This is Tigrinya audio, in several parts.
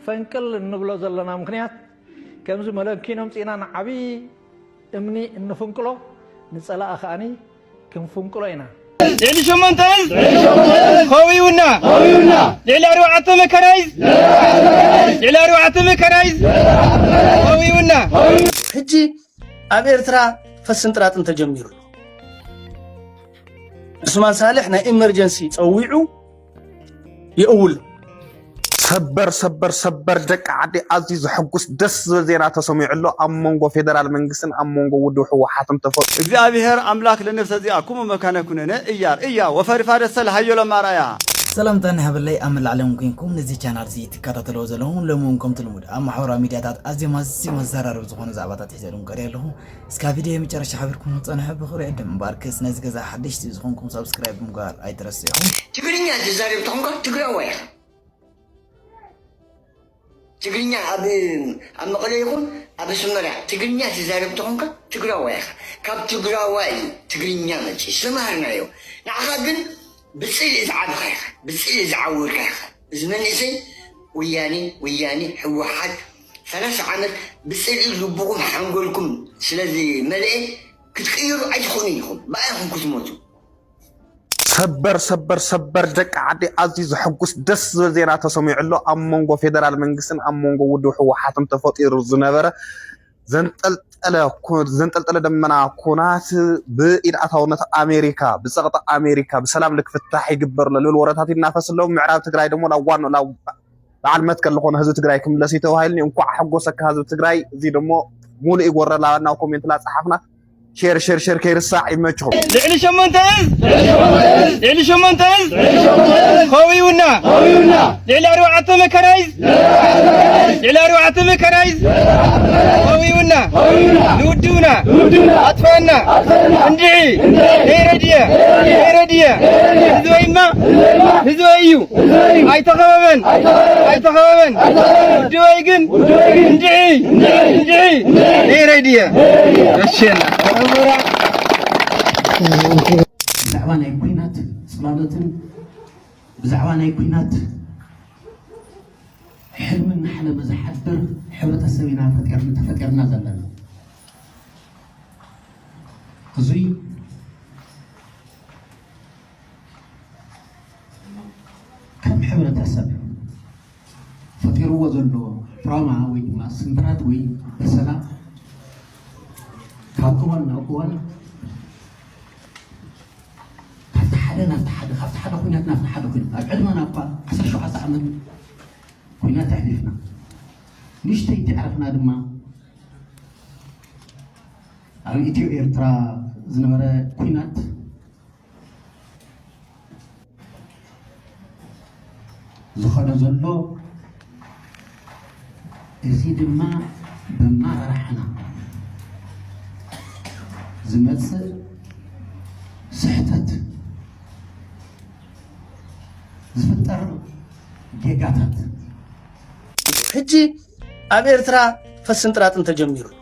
ፈንቅል እንብሎ ዘለና ምኽንያት ከምዚ መለንኪኖ ኣምጺእና ንዓብዪ እምኒ እንፍንቅሎ ንጸላኢ ከኣ ክንፍንቅሎ ኢና። ልዕሊ ሸሞንተ እዝ ኸዊውና ልዕሊ ኣርባዕተ መከራይዝ ልዕሊ ኣርባዕተ መከራይዝ ኸዊውና ሕጂ ኣብ ኤርትራ ፈስንጥራጥን ተጀሚሩ ኣሎ። ዑስማን ሳልሕ ናይ ኢመርጀንሲ ጸዊዑ የእውል ሰበር ሰበር ሰበር ደቂ ዓዲ ኣዝዩ ዘሐጉስ ደስ ዝብል ዜና ተሰሚዑ ኣሎ ኣብ መንጎ ፌደራል መንግስትን ኣብ መንጎ ውድብ ህወሓትን ተፈ እግዚኣብሔር ኣምላክ ለነፍሰ ዚኣኩሙ መካነ ኩነነ እያር እያ ወፈሪ ፋደሰ ለሃዮሎም ኣርኣያ ሰላምታን ሃበለይ ኣብ መላእ ዓለም ኮይንኩም ነዚ ቻናል እዚ ትከታተልዎ ዘለኹም ሎሚ እውን ከምቲ ልሙድ ኣብ ማሕበራዊ ሚድያታት ኣዝዮም ኣዝዮም ኣዘራረብቲ ዝኾኑ ዛዕባታት ሒዘልኩም ቀሪበ ኣለኹ እስካ ቪድዮ መጨረሻ ሓቢርኩም ክትፀንሑ ብክብሪ ዕድም እምበር ክስ ነዚ ገዛ ሓደሽቲ ዝኮንኩም ሳብስክራይብ ምግባር ኣይትረስዑ። ትግርኛ ትዛረብ ተኾንካ ትግራዋይ ኢኻ። ትግርኛ ኣብ ኣብ መቐለ ይኹን ኣብ ኣስመራ ትግርኛ ትዛረብ ተኾንካ ትግራዋይ ኢኻ። ካብ ትግራዋይ እዩ ትግርኛ መፂኡ ዝተምሃርናዮ። ንዓኻ ግን ብፅልኢ ዝዓበኻ ኢኻ፣ ብፅልኢ ዝዓወርካ ኢኻ። እዚ መንእሰይ ወያኔ ወያኔ ህወሓት ሰላሳ ዓመት ብጽልኢ ልብኹም ሓንጎልኩም ስለ ዝመልኤ ክትቅይሩ ኣይትኽእሉን ኢኹም ብኣ ኢኹም ክትሞቱ። ሰበር ሰበር ሰበር ደቂ ዓደይ ኣዝዩ ዘሐጉስ ደስ ዝብል ዜና ተሰሚዑ ኣሎ ኣብ መንጎ ፌደራል መንግስትን ኣብ መንጎ ውድብ ህወሓትን ተፈጢሩ ዝነበረ ዘንጠልጠለ ደመና ኩናት ብኢድ ኣታውነት ኣሜሪካ ብፀቕጢ ኣሜሪካ ብሰላም ልክፍታሕ ይግበር ኣሎ ልብል ወረታት ይናፈስ ኣሎ ምዕራብ ትግራይ ደሞ ናብ ዋንኡ ናብ በዓል መትከል ዝኾነ ህዝቢ ትግራይ ክምለስ እዩ ተባሂሉኒ እንኳዕ ሓጎሰካ ህዝቢ ትግራይ እዚ ደሞ ሙሉእ ይጎረላ ናብ ኮሜንት ላፀሓፍና ሼር ሼር ሼር ከይርሳዕ ይመችኹም ልዕሊ ሸሞንተ እዝ ልዕሊ ሸሞንተ እዝ ከውዩና ልዕሊ ኣርባዕተ መከራይዝ ልዕሊ ኣርባዕተ መከራይዝ ከውዩና ንውድብና ኣጥፋና እንድዒ ነይረድየ ነይረድየ ህዝበይማ ህዝበይ እዩ ኣይተኸበበን ኣይተኸበበን ውድበይ ግን እንድዒ እንድዒ ነይረይ ድየ ረሸና ብዛዕባ ናይ ኩናት ፅላሎትን ብዛዕባ ናይ ኩናት ሕልሚ እናሓለመ ዝሓድር ሕብረተሰብ ኢና ተፈጢርና ዘለና እዙይ ከም ሕብረተሰብ ፈጢርዎ ዘሎ ትራውማ ወይ ድማ ስምብራት ወይ በሰላ ካብ እዋን ናብ እዋን ካብቲ ሓደ ናብቲ ሓደ ካብቲ ሓደ ኩነት ናብቲ ሓደ ኩነት ኣብ ዕድመና እኳ ዓሰርተ ሸውዓተ ዓመት ኩነት ኣሕሊፍና ንእሽተይ ተዕረፍና ድማ ኣብ ኢትዮ ኤርትራ ዝነበረ ኩናት ዝኸዶ ዘሎ እዚ ድማ ብማራሕና ዝመፅእ ስሕተት ዝፍጠር ጌጋታት ሕጂ ኣብ ኤርትራ ፈስን ጥራጥን ተጀሚሩ ኣሎ።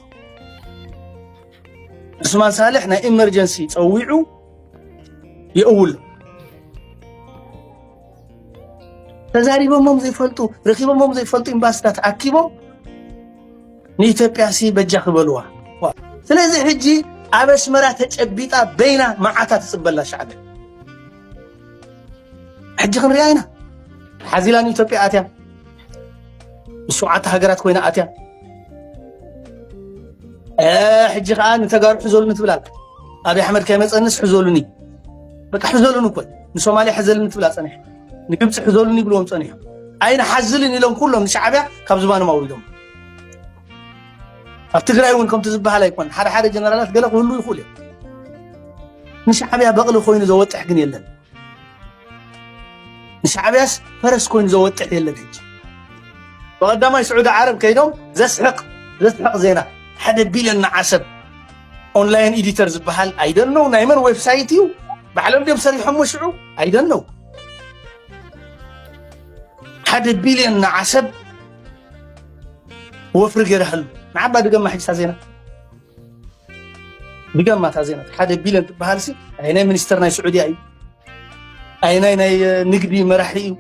ዑስማን ሳልሕ ናይ ኢመርጀንሲ ፀዊዑ የእውሎ ተዛሪቦሞም ዘይፈልጡ ረኪቦሞም ዘይፈልጡ ኤምባሲታት ኣኪቦም ንኢትዮጵያ ሲ በጃ ክበልዋ ስለዚ ሕጂ ኣብ ኣስመራ ተጨቢጣ በይና መዓታ ትፅበላ ሻዕብያ ሕጂ ክንሪኣ ኢና ሓዚላ ንኢትዮጵያ ኣትያ ምስ ሸውዓተ ሃገራት ኮይና ኣትያ ሕጂ ከዓ ንተጋሩ ሕዘሉኒ ትብል ኣላ ኣብይ ኣሕመድ ከይመፀንስ ሕዘሉኒ በቃ ሕዘሉኒ እኮ ንሶማልያ ሕዘልኒ ትብላ ፀኒሐ ንግብፂ ሕዘሉኒ ይብልዎም ፀኒሑ ኣይንሓዝልን ኢሎም ኩሎም ንሻዕብያ ካብ ዝባኖም ኣውሪዶም ኣብ ትግራይ እውን ከምቲ ዝበሃል ኣይኮን ሓደ ሓደ ጀነራላት ገለ ክህሉ ይኽእሉ እዮም ንሻዕብያ በቕሊ ኮይኑ ዘወጥሕ ግን የለን ንሻዕብያስ ፈረስ ኮይኑ ዘወጥሕ የለን ሕጂ ብቐዳማይ ስዑዲ ዓረብ ከይዶም ዘስሕቕ ዘስሕቕ ዜና ሓደ ቢልዮን ንዓሰብ ኦንላይን ኤዲተር ዝበሃል ኣይደነው ናይ መን ዌብሳይት እዩ ባዕሎም ድም ሰሪሖሞ ሽዑ ኣይደነው ሓደ ቢልዮን ንዓሰብ ወፍሪ ገይረሃሉ ንዓባ ድገማ ሕጅታ ዜና ብገማ እታ ዜና ሓደ ቢልዮን ትበሃልሲ ኣየናይ ሚኒስተር ናይ ስዑድያ እዩ ኣየናይ ናይ ንግዲ መራሒ እዩ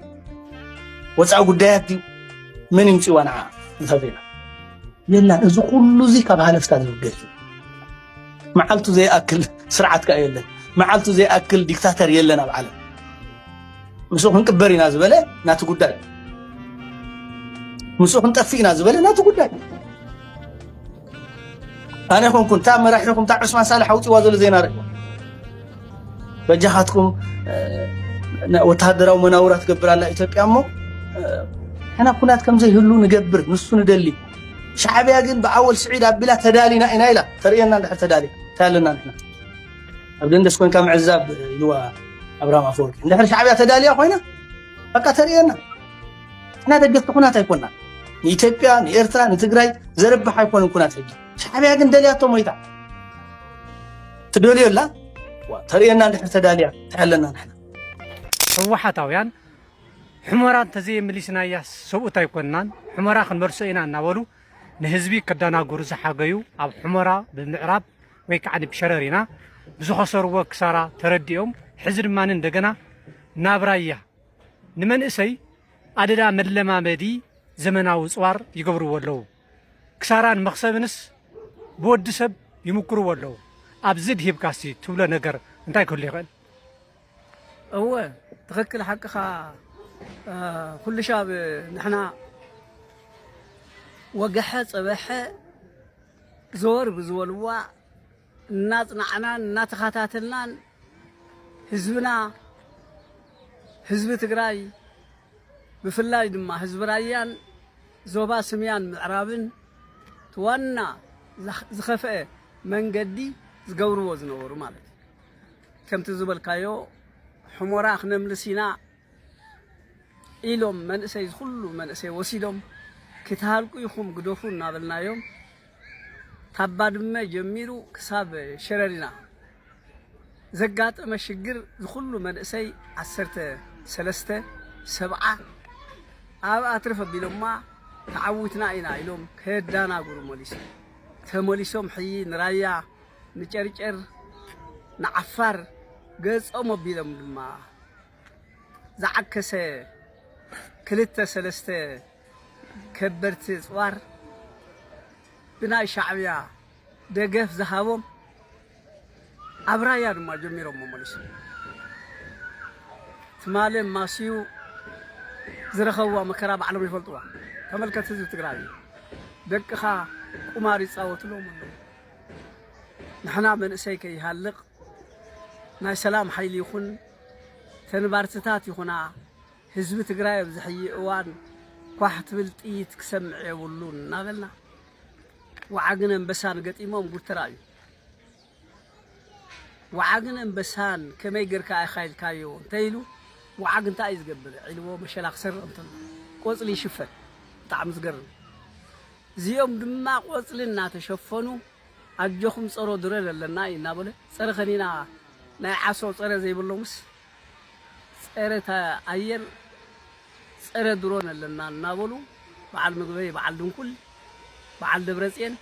ወፃኢ ጉዳያት ድዩ መን ይምፅዋ ንዓ እታ ዜና የላን እዚ ኩሉ እዚ ካብ ሃለፍታ ዝብገስ እዩ መዓልቱ ዘይኣክል ስርዓት ከዓ የለን መዓልቱ ዘይኣክል ዲክታተር የለን ኣብ ዓለም ምስኡ ክንቅበር ኢና ዝበለ ናቲ ጉዳይ ምስኡ ክንጠፍእ ኢና ዝበለ ናቲ ጉዳይ ኣነ ኮንኩን እታ መራሒኹም እታ ዑስማን ሳልሕ ኣውፅዋ ዘሎ ዜና ርእ በጃኻትኩም ወተሃደራዊ መናውራ ትገብር ኣላ ኢትዮጵያ እሞ ሕና ኩናት ከምዘይህሉ ንገብር ንሱ ንደሊ ሻዕብያ ግን ብኣወል ስዒድ ኣቢላ ተዳሊና ኢና ኢላ ተርእየና እንድሕር ተዳሊ እንታይ ኣለና ንሕና ኣብ ደንደስ ኮንካ ምዕዛብ ኢልዋ ኣብርሃም ኣፈወርቂ እንድሕር ሻዕብያ ተዳልያ ኮይና በቃ ተርእየና ንሕና ደገፍቲ ኩናት ኣይኮናን። ንኢትዮጵያ ንኤርትራ ንትግራይ ዘርብሕ ኣይኮነን ኩናት ሕጂ። ሻዕብያ ግን ደልያቶ ሞይታ ትደልዮ ኣላ ተርእየና እንድሕር ተዳልያ እንታይ ኣለና ንሕና ህወሓታውያን ሕመራ እንተዘየመሊስናያ ሰብኡት ኣይኮንናን ሕመራ ክንመልሶ ኢና እናበሉ ንህዝቢ ከደናግሩ ዝሓገዩ ኣብ ሕመራ ብምዕራብ ወይ ከዓ ብሸረሪና ብዝኸሰርዎ ክሳራ ተረዲኦም ሕዚ ድማ እንደገና ናብ ራያ ንመንእሰይ ኣደዳ መለማመዲ ዘመናዊ ፅዋር ይገብርዎ ኣለዉ። ክሳራን መኽሰብንስ ብወዲ ሰብ ይምኩርዎ ኣለዉ። ኣብዚ ድሂብካ እስቲ ትብሎ ነገር እንታይ ክህሉ ይኽእል? እወ ትኽክል ሓቅኻ ኩሉ ሻብ ንሕና ወገሐ ፀበሐ ዘወር ብዝበልዋ እናፅናዕናን እናተኸታተልናን ህዝብና ህዝቢ ትግራይ ብፍላይ ድማ ህዝቢ ራያን ዞባ ስምያን ምዕራብን እቲ ዋና ዝኸፍአ መንገዲ ዝገብርዎ ዝነበሩ ማለት እዩ። ከምቲ ዝበልካዮ ሑሞራ ክነምልስ ኢና፣ ኢሎም መንእሰይ ዝኹሉ መንእሰይ ወሲዶም ክትሃልቁ ኢኹም ግደፉ እናበልናዮም ካብ ባድመ ጀሚሩ ክሳብ ሸረሪና ዘጋጠመ ሽግር ዝኹሉ መንእሰይ ዓሰርተ ሰለስተ ሰብዓ ኣብኣ ትርፍ ኣቢሎማ ተዓዊትና ኢና ኢሎም ከየዳናግሩ መሊሶም ተመሊሶም ሕይ ንራያ ንጨርጨር ንዓፋር ገጾም ኣቢሎም ድማ ዝዓከሰ ክልተ ሰለስተ ከበድቲ ኣጽዋር ብናይ ሻዕብያ ደገፍ ዝሃቦም ኣብ ራያ ድማ ጀሚሮሞ መሊሶም ትማሊ ማስዩ ዝረኸብዋ መከራ ባዕሎም ይፈልጥዋ። ተመልከት ህዝቢ ትግራይ እዩ ደቅኻ ቁማር ይፃወትሎም ኣለዉ ንሕና መንእሰይ ከይሃልቕ ናይ ሰላም ሓይሊ ይኹን ተንባርትታት ይኹና ህዝቢ ትግራይ ኣብዚ ሕይ እዋን ኳሕ ትብል ጥይት ክሰምዕ የብሉን እናበልና ወዓግን ኣንበሳን ገጢሞም ጉድ ተራእዩ። ወዓግን ኣንበሳን ከመይ ጌርካ ኢኻ ኢልካዮ እንተኢሉ ወዓግ እንታይ እዩ ዝገብር ዒልዎ መሸላ ክሰርቕ እንተሎ ቆፅሊ ይሽፈን ብጣዕሚ ዝገርም እዚኦም ድማ ቆፅሊ እናተሸፈኑ ኣጆኹም ፀሮ ድረር ኣለና እዩ እናበለ ፀረ ከኒና ናይ ዓሶ ጸረ ዘይብሎምስ ጸረ ኣየር ጸረ ድሮን ኣለና እናበሉ በዓል ምግበይ በዓል ድንኩል በዓል ደብረጽየን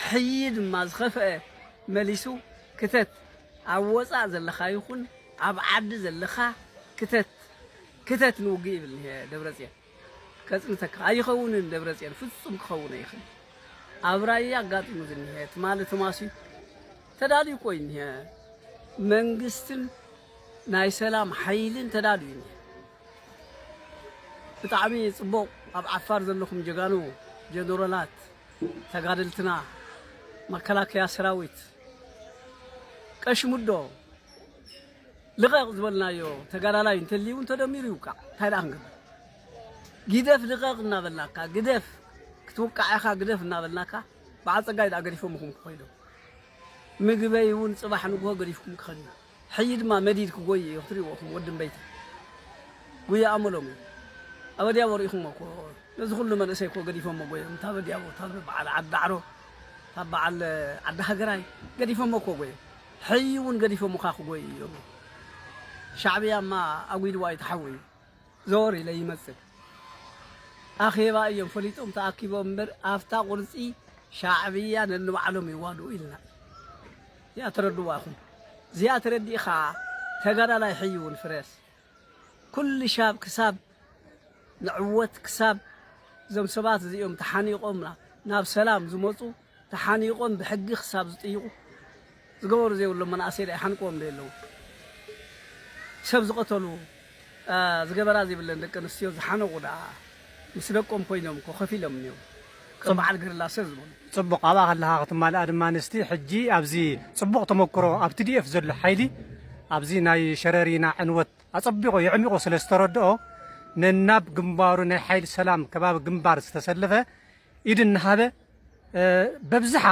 ሕይ ድማ ዝኸፈአ መሊሱ ክተት ኣብ ወጻእ ዘለኻ ይኹን ኣብ ዓዲ ዘለኻ ክተት ክተት ንውግእ ይብል ደብረጽየን ከጽንተካ ኣይኸውንን ደብረጽዮን ፍጹም ክኸውን ኣይኽልን ኣብ ራያ ኣጋጢሙ ዝኒሀ ትማሊ ተማሲዩ ተዳልዩ እኮ እዩ እኒሀ መንግስትን ናይ ሰላም ሓይልን ተዳልዩ እዩ ብጣዕሚ ጽቡቕ ኣብ ዓፋር ዘለኹም ጀጋኑ ጀነራላት ተጋደልትና መከላከያ ሰራዊት ቀሽሙዶ ልቐቕ ዝበልናዮ ተጋዳላይ እንተልዩ እውን ተደሚሩ ይውቃዕ እንታይ ደኣ ክንገብር ጊደፍ ልቐቕ እናበልናካ ግደፍ ክትውቃዕ ኢኻ ግደፍ እናበልናካ በዓል ጸጋይ ደኣ ገዲፎምኹም ክኸይዱ ምግበይ እውን ጽባሕ ንግሆ ገዲፍኩም ክኸድ እዩ ሕጂ ድማ መዲድ ክጎይ እዩ ክትሪእዎ ኹም ወዲ እምበይቲ ጉያ ኣመሎም እዩ ኣብ ኣዲያቦ ርኢኹሞ እኮ ነዚ ኩሉ መንእሰይ እኮ ገዲፎሞ ጎዮም እታ ኣዲያቦ እታ በዓል ዓዲ ዳዕሮ እታ በዓል ዓዲ ሃገራይ ገዲፎሞ እኮ ጎዮም ሕይ ውን ገዲፎሙካ ክጎዩ ኢዮም ሻዕብያ እማ ኣጉድዋ ይተሓወዩ ዘወር ኢለ ይመጽእ ኣኼባ ኢዮም ፈሊጦም ተኣኪቦም እምበር ኣፍታ ቁርጺ ሻዕብያ ነንባዕሎም ይዋድኡ ኢልና እዚኣ ተረድዋ ኢኹም እዚኣ ተረዲእኻ ተጋዳላይ ሕይ ውን ፍረስ ኩሉ ሻብ ክሳብ ንዕወት ክሳብ እዞም ሰባት እዚኦም ተሓኒቆም ናብ ሰላም ዝመጹ ተሓኒቆም ብሕጊ ክሳብ ዝጥይቁ ዝገበሩ ዘይብሎም መናእሰይ ድኣ ይሓንቅዎም ዶ የለዉን ሰብ ዝቀተሉ ዝገበራ ዘይብለን ደቂ ኣንስትዮ ዝሓነቁ ድኣ ምስ ደቆም ኮይኖም እኮ ኮፍ ኢሎም እኒዉ ከም በዓል ገሪላ ሰር ዝበሉ። ጽቡቕ ኣብኣ ከለኻ ክትማልኣ ድማ ንስቲ ሕጂ ኣብዚ ጽቡቕ ተመኩሮ ኣብ ትዲኤፍ ዘሎ ሓይሊ ኣብዚ ናይ ሸረሪና ዕንወት ኣጸቢቑ የዕሚቑ ስለ ዝተረድኦ ነናብ ግንባሩ ናይ ሓይሊ ሰላም ከባቢ ግንባር ዝተሰለፈ ኢድ እናሃበ በብዝሓ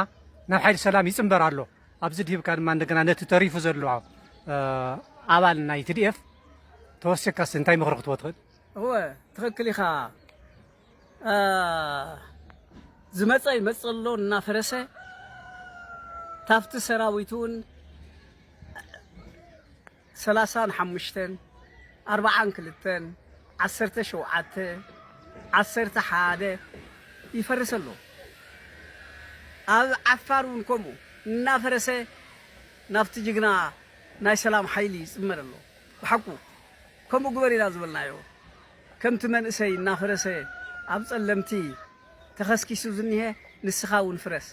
ናብ ሓይሊ ሰላም ይፅምበር ኣሎ። ኣብዚ ድሂብካ ድማ እንደገና ነቲ ተሪፉ ዘሎ ኣባል ናይ ትድኤፍ ተወሲኽካስ እንታይ ምኽሪ ክትቦ ትኽእል? እወ ትኽክል ኢኻ። ዝመፀ ይመፅእ ኣሎ እናፈረሰ ታፍቲ ሰራዊት እውን ሰላሳን ሓሙሽተን ኣርባዓን ክልተን ዓሰርተ ሸውዓተ ዓሰርተ ሓደ ይፈርስ ኣሎ ኣብ ዓፋር ውን ከምኡ እናፈረሰ ናብቲ ጅግና ናይ ሰላም ሓይሊ ይጽመር ኣሎ ብሓቁ ከምኡ ግበር ኢና ዝበልናዮ ከምቲ መንእሰይ እናፈረሰ ኣብ ጸለምቲ ተኸስኪሱ ዝኒሀ ንስኻ ውን ፍረስ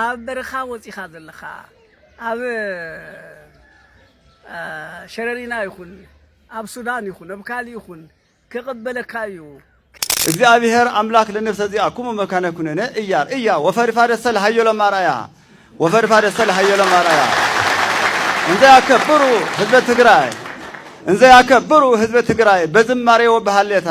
ኣብ በረኻ ወጺኻ ዘለኻ ኣብ ሸረሪና ይኹን ኣብ ሱዳን ይኹን ኣብ ካልእ ይኹን ክቕበለካ እዩ። እግዚኣብሔር ኣምላክ ለነፍሰ ዚኣኩሙ መካነ ኩነነ እያር እያ ወፈሪፋደ ሰል ሃዮሎም ኣርኣያ ወፈሪፋደ ሰል ሃዮሎም ኣርኣያ እንዘ ያከብሩ ህዝበ ትግራይ እንዘ ያከብሩ ህዝበ ትግራይ በዝማሬ ወበሃሌታ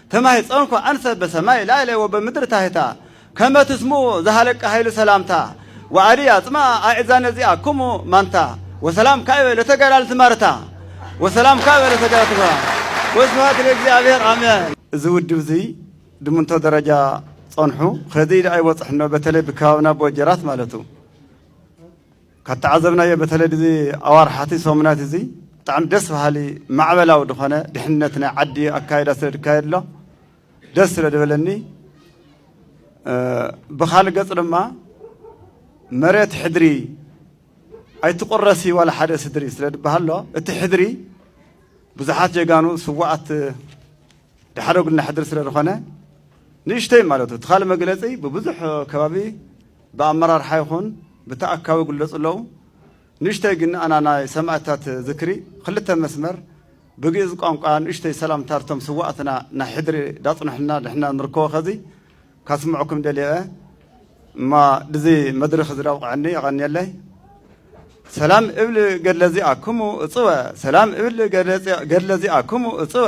ተማሂጸንኩ ኣንሰ በሰማይ ላዕሌ ወበምድር ታሕታ ከመ ትስምኡ ዘሃለቀ ኃይሉ ሰላምታ ወኣዲ ኣጽምኣ ኣዕዛነ እዚኣክሙ ማንታ ወሰላም ካዕበ ለተገላልት ማርታ ወሰላም ካዕበ ለተገላልት ማርታ ወስብሃት ለእግዚኣብሔር ኣሜን። እዚ ውድብ እዚ ድምንቶ ደረጃ ጸንሑ ከዚ ኢሉ ኣይበጽሕኖ በተለይ ብከባብና ብወጀራት ማለቱ። ካብ ተዓዘብናዮ በተለይ ድዚ ኣዋርሓቲ ሰሙናት እዚ ብጣዕሚ ደስ በሃሊ ማዕበላዊ ድኾነ ድሕነት ናይ ዓዲ ኣካይዳ ስለ ድካየድ ኣሎ ደስ ስለ ድበለኒ ብካልእ ገፅ ድማ መሬት ሕድሪ ኣይትቁረሲ ዋላ ሓደ ስድሪ ስለ ድበሃሎ እቲ ሕድሪ ብዙሓት ጀጋኑ ስዋኣት ድሓደጉልና ሕድሪ ስለ ዝኾነ ንእሽተይ ማለት እዩ እቲ ካልእ መግለፂ ብብዙሕ ከባቢ ብኣመራርሓ ይኹን ብተኣካቢ ይግለፁ ኣለዉ። ንእሽተይ ግን ኣና ናይ ሰማእታት ዝክሪ ኽልተ መስመር ብግእዝ ቋንቋ ንእሽተይ ሰላምታ ርቶም ስዋኣትና ናይ ሕድሪ ዳፅንሑልና ንሕና ንርከቦ ኸዚ ካስምዕኩም ደልየ እየ እማ ድዚ መድርኽ እዚ ዳብቕዐኒ የቐንየለይ ሰላም እብል ገድለ ዚኣክሙ እፅወ ሰላም እብል ገድለ ዚኣክሙ እፅወ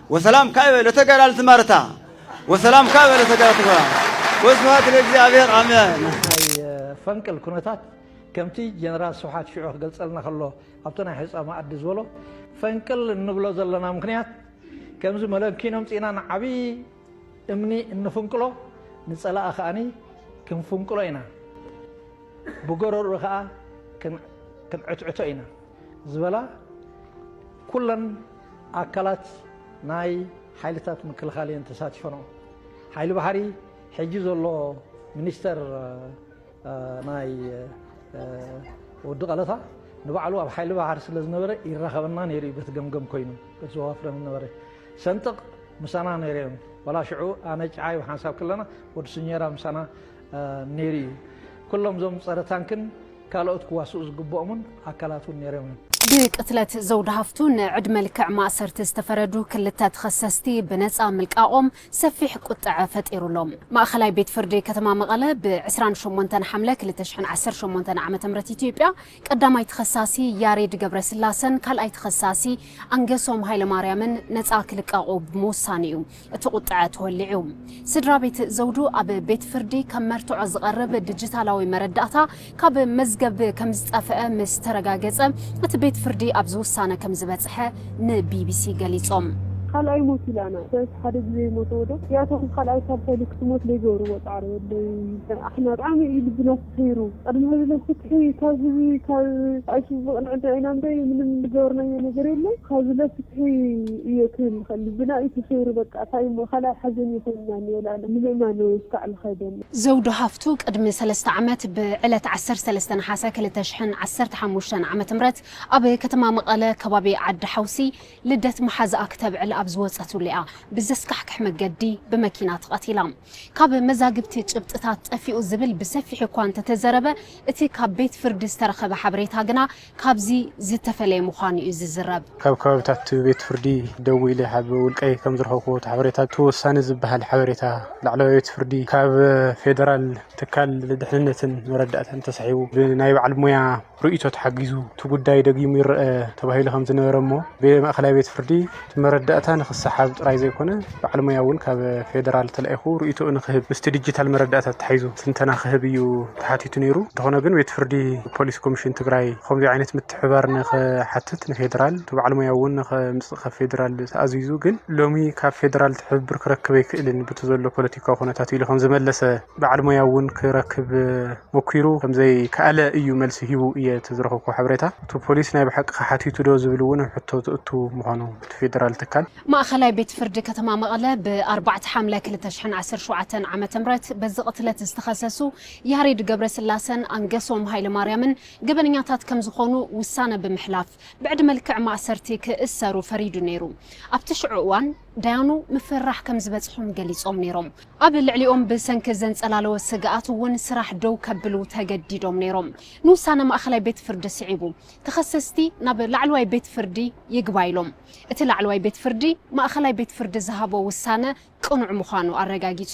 ወሰላም ካይበ ለተጋዳልቲ ማርታ ወሰላም ካይበ ለተጋዳልቲ ማርታ ወስብሃት ለእግዚኣብሔር ኣሜን። ፈንቅል ኩነታት ከምቲ ጀነራል ስብሓት ሽዑ ክገልጸልና ከሎ ኣብቲ ናይ ሕፃ መኣዲ ዝበሎ ፈንቅል እንብሎ ዘለና ምክንያት ከምዚ መለኪኖ ምፂእና ንዓብዪ እምኒ እንፍንቅሎ ንፀላኢ ከዓኒ ክንፍንቅሎ ኢና ብጎረርኡ ከዓ ክንዕትዕቶ ኢና ዝበላ ኩለን ኣካላት ናይ ሓይልታት ምክልኻል እየን ተሳቲፈንኦ። ሓይሊ ባሕሪ ሕጂ ዘሎ ሚኒስተር ናይ ወዲ ቀለታ ንባዕሉ ኣብ ሓይሊ ባሕሪ ስለ ዝነበረ ይራኸበና ነይሩ እዩ በቲ ገምገም ኮይኑ በቲ ዘዋፍረን ዝነበረ ሰንጥቕ ምሳና ነይረ እዮም ዋላ ሽዑ ኣነ ጭዓይ ብሓንሳብ ከለና ወዲ ስኘራ ምሳና ነይሩ እዩ። ኩሎም እዞም ፀረ ታንክን ካልኦት ክዋስኡ ዝግብኦምን ኣካላት እውን ነይሮም እዮም። ብቅትለት ዘውዲ ሃፍቱ ንዕድመ ልክዕ ማእሰርቲ ዝተፈረዱ ክልተ ተኸሰስቲ ብነፃ ምልቃቖም ሰፊሕ ቁጠዐ ፈጢሩ ኣሎ። ማእኸላይ ቤት ፍርዲ ከተማ መቐለ ብ ዕስራን ሸሞንተን ሓምለ ክልተ ሽሕን ዓሰርተ ሸሞንተን ዓ.ም ኢትዮጵያ ቀዳማይ ተኸሳሲ ያሬድ ገብረስላሰን ካልኣይ ተኸሳሲ ኣንገሶም ሃይለማርያምን ነፃ ክልቀቑ ብምውሳኑ እዩ እቲ ቁጥዐ ተወሊዑ። ስድራቤት ዘውዱ ኣብ ቤት ፍርዲ ከም መርትዖ ዝቐርብ ዲጂታላዊ መረዳእታ ካብ መዝገብ ከምዝጠፍአ ምስ ተረጋገፀ እቲ ቤት ፍርዲ ኣብዚ ውሳነ ከምዝበፅሐ ንቢቢሲ ገሊፆም። ካልኣይ ሞት ኢላ ኣና ዳዊት ሓደ ግዜ ይሞተዎ ዶ ያቶም ካልኣይ ሳልሳይ ልክትሞት ለይገብርዎ ጻዕሪ ወለይ ኣሕና ብጣዕሚ እዩ ልብና ነይሩ ቅድሚ ሕዚ ን ፍትሒ ካብዚ ካብ ኣይሱዚ ዝቅንዕ እንተ ኢና እምበይ ምንም ዝገበርናዮ ነገር የለን ካብዚ ለ ፍትሒ እየ ክብል ዝክእል ልብና እዩ ተሰይሩ በቃ ታይ እሞ ካልኣይ ሓዘን እዩ ኮይኑና እኒኦ ላለ ንምእማን እው እስካዕ ዝከደኒ። ዘውዱ ሃፍቱ ቅድሚ ሰለስተ ዓመት ብዕለት ዓሰርተ ሰለስተ ነሓሰ ክልተ ሽሕን ዓሰርተ ሓሙሽተን ዓመተ ምህረት ኣብ ከተማ መቐለ ከባቢ ዓዲ ሓውሲ ልደት መሓዝኣ ክተብዕል ኣብ ዝወጸትሉ እያ ብዘስካሕክሕ መገዲ ብመኪና ተቐቲላ። ካብ መዛግብቲ ጭብጥታት ጠፊኡ ዝብል ብሰፊሑ እኳ እንተተዘረበ፣ እቲ ካብ ቤት ፍርዲ ዝተረኸበ ሓበሬታ ግና ካብዚ ዝተፈለየ ምዃኑ እዩ ዝዝረብ። ካብ ከባቢታት ቤት ፍርዲ ደዊለ ካብ ውልቀይ ከም ዝረኸብኩዎ እቲ ሓበሬታ፣ እቲ ወሳኒ ዝበሃል ሓበሬታ ላዕለዋይ ቤት ፍርዲ ካብ ፌደራል ትካል ደሕንነትን መረዳእታን ተሳሒቡ ብናይ በዓል ሞያ፣ ርእይቶ ተሓጊዙ እቲ ጉዳይ ደጊሙ ይረኣ ተባሂሉ ከም ዝነበረ እሞ ብማእኸላይ ቤት ፍርዲ እቲ መረዳእታ ንክሰሓብ ጥራይ ዘይኮነ በዓል ሞያ እውን ካብ ፌደራል ተላኢኹ ርእይቶኡ ንክህብ ምስቲ ዲጂታል መረዳእታ ተታሒዙ ትንተና ክህብ እዩ ተሓቲቱ ነይሩ። እንተኾነ ግን ቤት ፍርዲ ፖሊስ ኮሚሽን ትግራይ ብኸምዚ ዓይነት ምትሕብባር ንክሓትት ንፌደራል እቲ በዓል ሞያ እውን ንከምፅእ ካብ ፌደራል ተኣዚዙ ግን ሎሚ ካብ ፌደራል ትሕብብር ክረክብ ኣይክእልን ብቲ ዘሎ ፖለቲካዊ ኩነታት ኢሉ ከም ዝመለሰ በዓል ሞያ እውን ክረክብ ሞኪሩ ከምዘይከኣለ ኢዩ መልሲ ሂቡ ኢየ እቲ ዝረኸብኩዎ ሓበሬታ። እቲ ፖሊስ ናይ ብሓቂኸ ሓቲቱዶ ዝብል እውን ኣብ ሕቶ ዘእቱ ምዃኑ እቲ ፌደራል ትካል። ማእኸላይ ቤት ፍርዲ ከተማ መቐለ ብ ኣርባዕተ ሓምለ ክልተ ሽሕን ዓሰርተ ሸውዓተን ዓመተ ምህረት በዚ ቕትለት ዝተኸሰሱ ያሬድ ገብረስላሰን ኣንገሶም ሃይለማርያምን ገበነኛታት ከምዝኾኑ ውሳነ ብምሕላፍ ብዕድመ ልክዕ ማእሰርቲ ክእሰሩ ፈሪዱ ነይሩ ኣብቲ ሽዑ እዋን ዳያኑ ምፍርራሕ ከም ዝበጽሖም ገሊጾም ነይሮም። ኣብ ልዕሊኦም ብሰንኪ ዘንጸላለወ ስግኣት እውን ስራሕ ደው ከብሉ ተገዲዶም ነይሮም። ንውሳነ ማእከላይ ቤት ፍርዲ ስዒቡ፣ ተኸሰስቲ ናብ ላዕለዋይ ቤት ፍርዲ ይግባይ ኢሎም። እቲ ላዕለዋይ ቤት ፍርዲ፣ ማእከላይ ቤት ፍርዲ ዝሃቦ ውሳነ ቅኑዕ ምዃኑ ኣረጋጊጹ።